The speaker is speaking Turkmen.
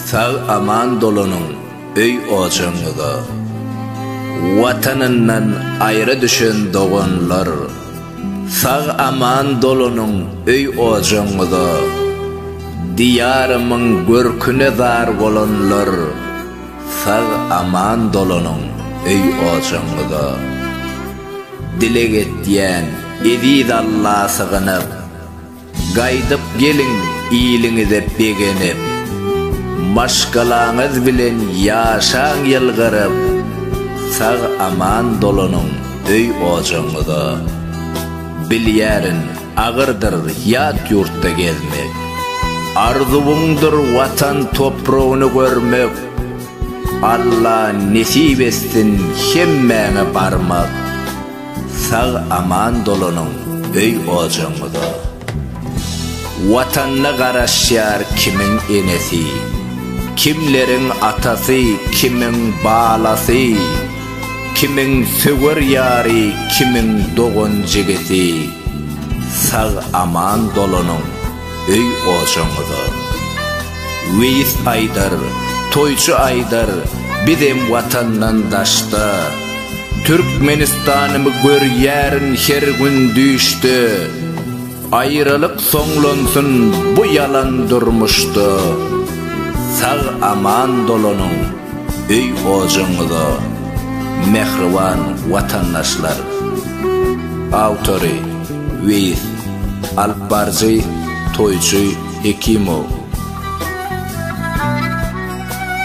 Sag aman dolanyň öý ojagyňyza. Watanyndan aýra düşen doganlar. Sag aman dolanyň öý ojagyňyza. Diýarymyň görküne zar bolanlar. Sag aman dolanyň öý ojagyňyza. Dileg etýän eziz Alla sygynyp. Gaýdyp geliň iliňize begenip. Maşgalaňyz bilen ýaşaň ýylgyryp. Sag-aman dolanyň öý-ojagyňyza. Bilýärin, agyrdyr ýat ýurtda gezmek. Arzuwyňdyr Watan topragyny görmek. Alla nesip etsin hemmäňe barmak. Sag aman dolanyň öý ojagyňyza. Watanyna garaşýar kimiň enesi, kimleriň atasy, kimiň balasy, kimiň söwer ýary, kimiň dogan-jigisi. Sag aman dolanyň. öý ojaňyza. Weýis aýdar, toýçy aýdar, bizem watandan daşda. Türkmenistanymy görýärin her gün düýşde. Aýralyk soňlansyn bu ýalan durmuşda. Sag aman dolanyň öý ojaňyza. Mähriban watandaşlar! Awtory. Weýis, alyp baryjy, toýçy, Hekimow.